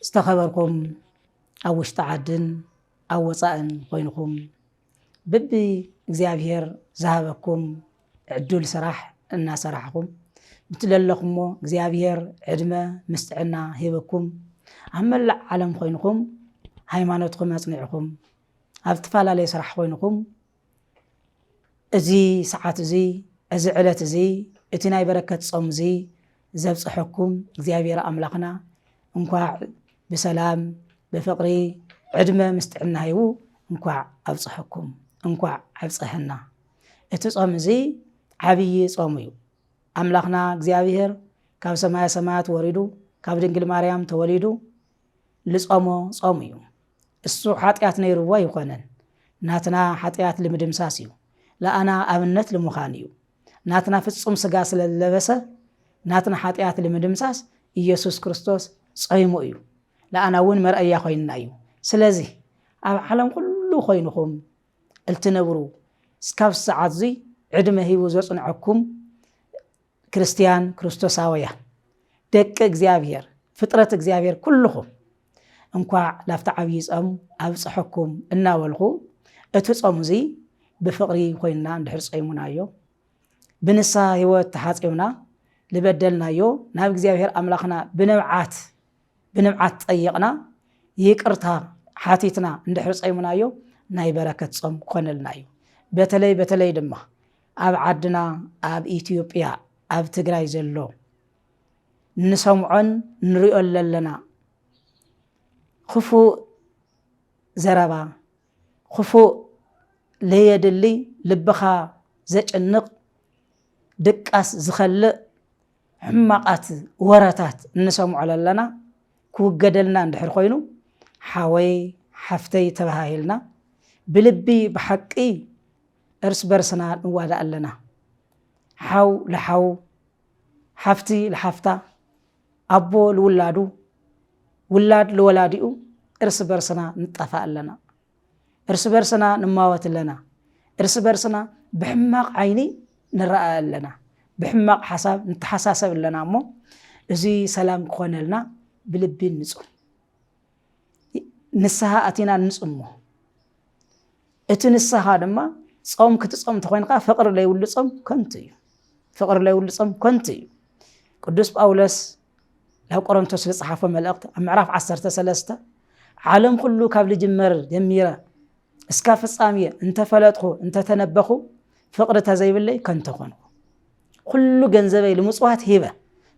ዝተኸበርኩም ኣብ ውሽጢ ዓድን ኣብ ወፃእን ኮይንኹም ብቢ እግዚኣብሔር ዝሃበኩም ዕዱል ስራሕ እናሰራሕኹም ብትለለኹሞ እግዚኣብሔር ዕድመ ምስ ጥዕና ሂብኩም ኣብ መላእ ዓለም ኮይንኹም ሃይማኖትኩም ኣፅኒዕኹም ኣብ ዝተፈላለየ ስራሕ ኮይንኹም እዚ ሰዓት እዙይ እዚ ዕለት እዙይ እቲ ናይ በረከት ጾም እዙይ ዘብፀሐኩም እግዚኣብሔር ኣምላኽና እንኳዕ ብሰላም ብፍቅሪ ዕድመ ምስ ጥዕና ሂቡ እንኳዕ ኣብፀሐኩም እንኳዕ ኣብፀሐና። እቲ ጾም እዙይ ዓብዪ ጾም እዩ። ኣምላኽና እግዚኣብሔር ካብ ሰማያ ሰማያት ወሪዱ ካብ ድንግል ማርያም ተወሊዱ ልጾሞ ጾም እዩ። እሱ ሓጢኣት ነይርዎ ኣይኾነን። ናትና ሓጢኣት ልምድምሳስ እዩ። ለኣና ኣብነት ልምዃን እዩ። ናትና ፍጹም ስጋ ስለ ዝለበሰ ናትና ሓጢኣት ልምድምሳስ ኢየሱስ ክርስቶስ ጾይሙ እዩ። ለኣና እውን መርኣያ ኮይንና እዩ። ስለዚህ ኣብ ዓለም ኩሉ ኮይንኹም እልትነብሩ እስካብ ሰዓት እዙይ ዕድመ ሂቡ ዘጽንዐኩም ክርስትያን ክርስቶሳውያን ደቂ እግዚኣብሔር ፍጥረት እግዚኣብሔር ኩልኹም እንኳዕ ላብቲ ዓብዪ ጾም ኣብፀሐኩም እናበልኹ እቲ ጾም እዙይ ብፍቕሪ ኮይንና እንድሕር ጸይሙናዮ ብንስሓ ህይወት ተሓጺብና ልበደልናዮ ናብ እግዚኣብሔር ኣምላኽና ብንብዓት ብንብዓት ጠይቕና ይቅርታ ሓቲትና እንድሕር ጸይሙናዮ ናይ በረከት ጾም ክኾነልና እዩ በተለይ በተለይ ድማ ኣብ ዓድና ኣብ ኢትዮጵያ ኣብ ትግራይ ዘሎ ንሰምዖን ንሪኦን ዘለና ክፉእ ዘረባ ክፉእ ለየድሊ ልብኻ ዘጭንቕ ድቃስ ዝኸልእ ሕማቓት ወረታት እንሰምዖ ለለና ክውገደልና እንድሕር ኮይኑ ሓወይ ሓፍተይ ተባሃሂልና ብልቢ ብሓቂ እርስ በርስና ንዋዳእ ኣለና። ሓው ልሓዉ፣ ሓፍቲ ልሓፍታ፣ ኣቦ ልውላዱ፣ ውላድ ልወላዲኡ እርስ በርስና ንጣፋእ ኣለና። እርስ በርስና ንማወት ኣለና። እርስ በርስና ብሕማቕ ዓይኒ ንረኣእ ኣለና። ብሕማቕ ሓሳብ ንተሓሳሰብ ኣለና እሞ እዚ ሰላም ክኾነልና ብልቢ ንጹም ንስሃ ኣቲና ንጽሞ። እቲ ንስኻ ድማ ጾም ክትጾም እንተኾይንካ ፍቕሪ ለይብሉ ጾም ከንቱ እዩ ፍቕሪ ለይብሉ ጾም ከንቱ እዩ ቅዱስ ጳውሎስ ናብ ቆሮንቶስ ዝጸሓፎ መልእኽቲ ኣብ ምዕራፍ 13 ዓለም ኩሉ ካብ ልጅመር ጀሚረ እስካ ፍጻሜ እንተፈለጥኹ እንተተነበኹ ፍቕሪ ተዘይብለይ ከንተ ኮንኹ ኵሉ ገንዘበይ ልምጽዋት ሂበ፣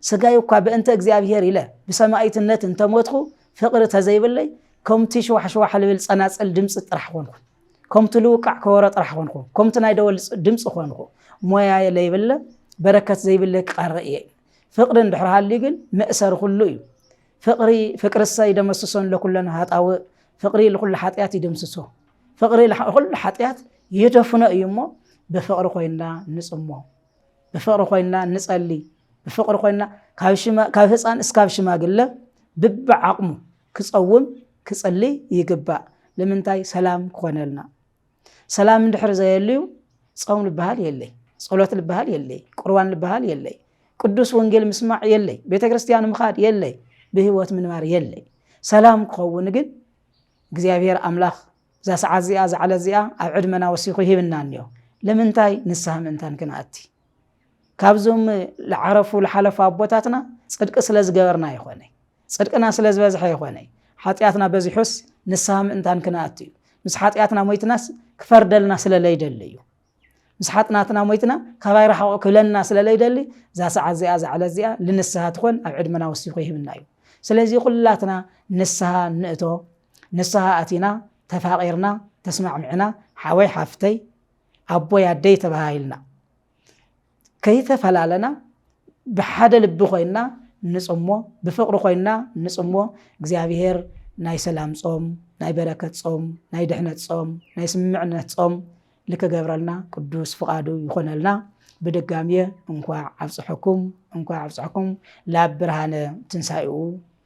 ስጋይ እኳ በእንተ እግዚኣብሔር ኢለ ብሰማኢትነት እንተ ሞትኩ፣ ፍቕሪ ተዘይብለይ፣ ከምቲ ሽዋሕሽዋሕ ልብል ጸናጽል ድምጺ ጥራሕ ኾንኩ፣ ከምቲ ልውቃዕ ከበሮ ጥራሕ ኾንኩ፣ ከምቲ ናይ ደወል ድምጺ ኾንኩ፣ ሞያየ ለይብለ፣ በረከት ዘይብለይ ክቐሪ እየ። ፍቕሪ እንድሕር ሃልዩ ግን መእሰሪ ኵሉ እዩ። ፍቕሪ ፍቅርሰ ይደመስሶን ለኵለን ኃጣውእ፣ ፍቕሪ ልኵሉ ኃጢኣት ይድምስሶ። ፍቕሪ ኩሉ ሓጢኣት ይደፍኖ እዩ እሞ ብፍቕሪ ኮይንና ንጽሞ ብፍቕሪ ኮይንና ንጸሊ ብፍቕሪ ኮይንና ካብ ህፃን እስካብ ሽማግለ ብቢ ዓቕሙ ክፀውም ክፅሊ ይግባእ ንምንታይ ሰላም ክኾነልና ሰላም እንድሕር ዘየልዩ ፆም ልበሃል የለይ ፀሎት ልበሃል የለይ ቁርባን ልበሃል የለይ ቅዱስ ወንጌል ምስማዕ የለይ ቤተ ክርስቲያን ምኻድ የለይ ብህይወት ምንባር የለይ ሰላም ክኸውን ግን እግዚኣብሔር ኣምላክ እዛ ሰዓት እዚኣ እዛ ዕለት እዚኣ ኣብ ዕድመና ወሲኹ ሂብና እኒኦ ለምንታይ ንስሃ ምእንታን ክንኣቲ ካብዞም ልዓረፉ ልሓለፉ ኣቦታትና ፅድቂ ስለ ዝገበርና ይኾነ ፅድቅና ስለ ዝበዝሐ ይኾነ ሓጢኣትና በዚሑስ ንስሃ ምእንታን ክንኣቲ እዩ ምስ ሓጢኣትና ሞይትናስ ክፈርደልና ስለ ለይደሊ እዩ ምስ ሓጥናትና ሞይትና ካባይ ራሕቑ ክብለና ስለ ለይደሊ እዛ ሰዓት እዚኣ እዛ ዕለት እዚኣ ልንስሃ ትኾን ኣብ ዕድመና ወሲኹ ይህብና እዩ ስለዚ ኩላትና ንስሃ ንእቶ ንስሃ ኣቲና ተፋቒርና ተስማዕሚዕና ሓወይ ሓፍተይ ኣቦይ ኣደይ ተባሃሂልና ከይተፈላለና ብሓደ ልቢ ኮይንና ንጽሞ ብፍቅሪ ኮይንና ንጽሞ እግዚኣብሔር ናይ ሰላም ጾም ናይ በረከት ጾም ናይ ድሕነት ጾም ናይ ስምምዕነት ጾም ልክገብረልና ቅዱስ ፍቃዱ ይኾነልና ብድጋሚየ እንኳዕ ኣብፀሐኩም እንኳዕ ኣብፀሐኩም ላብ ብርሃነ ትንሳኤኡ